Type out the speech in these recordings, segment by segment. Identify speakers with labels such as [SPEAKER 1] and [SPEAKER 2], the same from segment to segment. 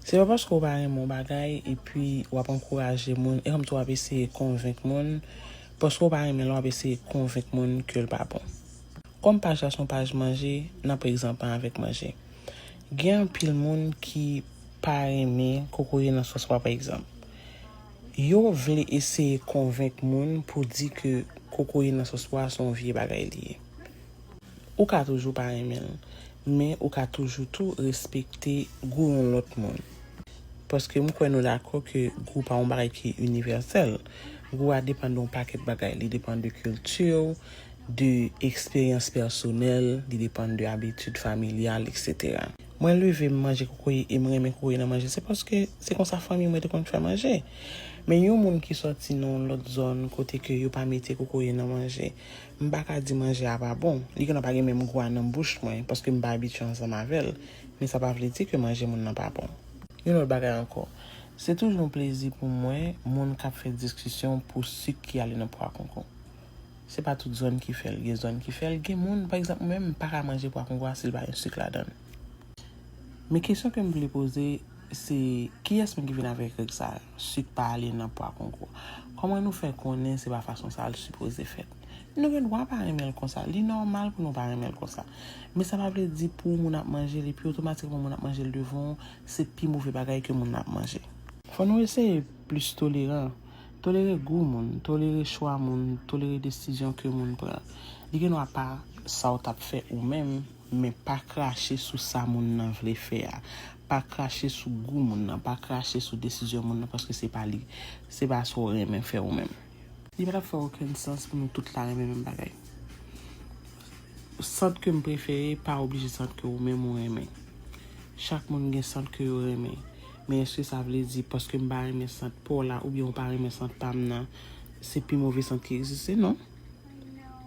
[SPEAKER 1] Se pa paske ou pa renmen yon bagay epi wap ankouraje moun e kòmsi wap eseye konvenk moun paske ou pa renmen l wap eseye konvenk moun ke l pa bon. Kòm paj la se yon paj manje nap egzanp an avèk manje. Gen anpil moun ki pa renmen kokoye nan sòs pwa pa egzanp. Yo vle eseye konvenk moun pou di ke kokoye nan sòs pwa se yon vye bagay li ye. Ou ka toujou pa renmen l, men ou ka toujou tou respekte gou yon lòt moun. Paske m kwè nou dakò ke gou pa yon bagay ki inivèsèl. Gou a depann de yon pakèt bagay. Li depann de kilti w, de eksperyans pèsonèl, li depann de abitid familyal, eksetera. Mwen leve, m manje kokoye e m renmen kokoye nan manje, se paske se konsa fanmi mwen te konn fè manje. Men yon moun ki sòti nan yon lòt zòn kote ke yo pa mete kokoye nan manje, M pa ka di manje a pa bon. Li genlè pa gen menm gou a nan bouch mwen, paske m pa abitye ansanm avè l. Men sa pa vle di ke manje moun nan pa bon. Yon lòt bagay ankò, se toujou yon plezi pou m wè moun k ap fè diskisyon pou sik ki ale nan pwa konko. Se pa tout zòn ki fè l. Gen zòn ki fè l. Gen moun, pa egzanp, mwen menm, m pa ka manje pwa konko a si l pa gen sik ladan l. Men kesyon ke m vle poze, se kiyès menm ki vin avèk règ sa a? Sik pa ale nan pwa kongo. Koman nou fè konnen se pa fason sa l sipoze fèt? Nou gen dwa pa renmen l konsa. Li nòmal pou nou pa renmen l konsa. Men sa pa vle di pou moun ap manje l epi otomatikman moun ap manje l devan ou, se pi move bagay ke moun nan ap manje. Fò nou eseye plis toleran. Tolere gou moun, tolere chwa moun, tolere desizyon ke moun pran. Li gen dwa pa sa w t ap fè ou menm. Men pa krache sou sa moun nan vle fè a. Pa krache sou gou moun nan. Pa krache sou desizyon moun nan paske se pa li. Se pa sa w renmen fè ou menm. Li pa t ap fè okenn sans pou nou tout la renmen menm bagay. Sant ke m prefere pa oblije sant ke ou menm ou renmen. Chak moun gen sant ke yo renmen. Men èske sa vle di paske m pa renmen sant pa w la oubyen ou pa renmen sant pa m nan, se pi move sant ki egziste? Non.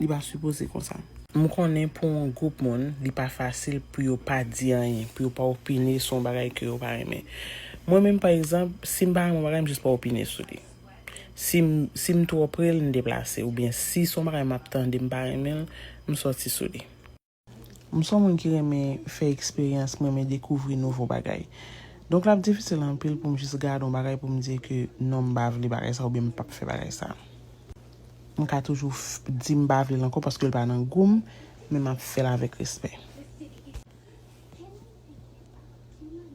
[SPEAKER 1] Li pa sipoze konsa. M konnen pou yon gwoup moun li pa fasil pou yo pa di anyen, pou yo pa opine sou yon bagay ke yo pa renmen. Mwen menm pa egzanp, si m pa renmen yon bagay m jis pa opine sou li. Si m si m twò pre l m deplase oubyen si s on bagay m ap tande m pa renmen l m sòti sou li. M son moun ki renmen fè eksperyans, m renmen dekouvri nouvo bagay. Donk l ap difisil anpil pou m jis gade yon bagay pou m di ke non m pa vle bagay sa oubyen m pap fè bagay sa. M ka toujou di m pa vle l ankò paske l pa nan gou m, men m ap fè l avèk respè.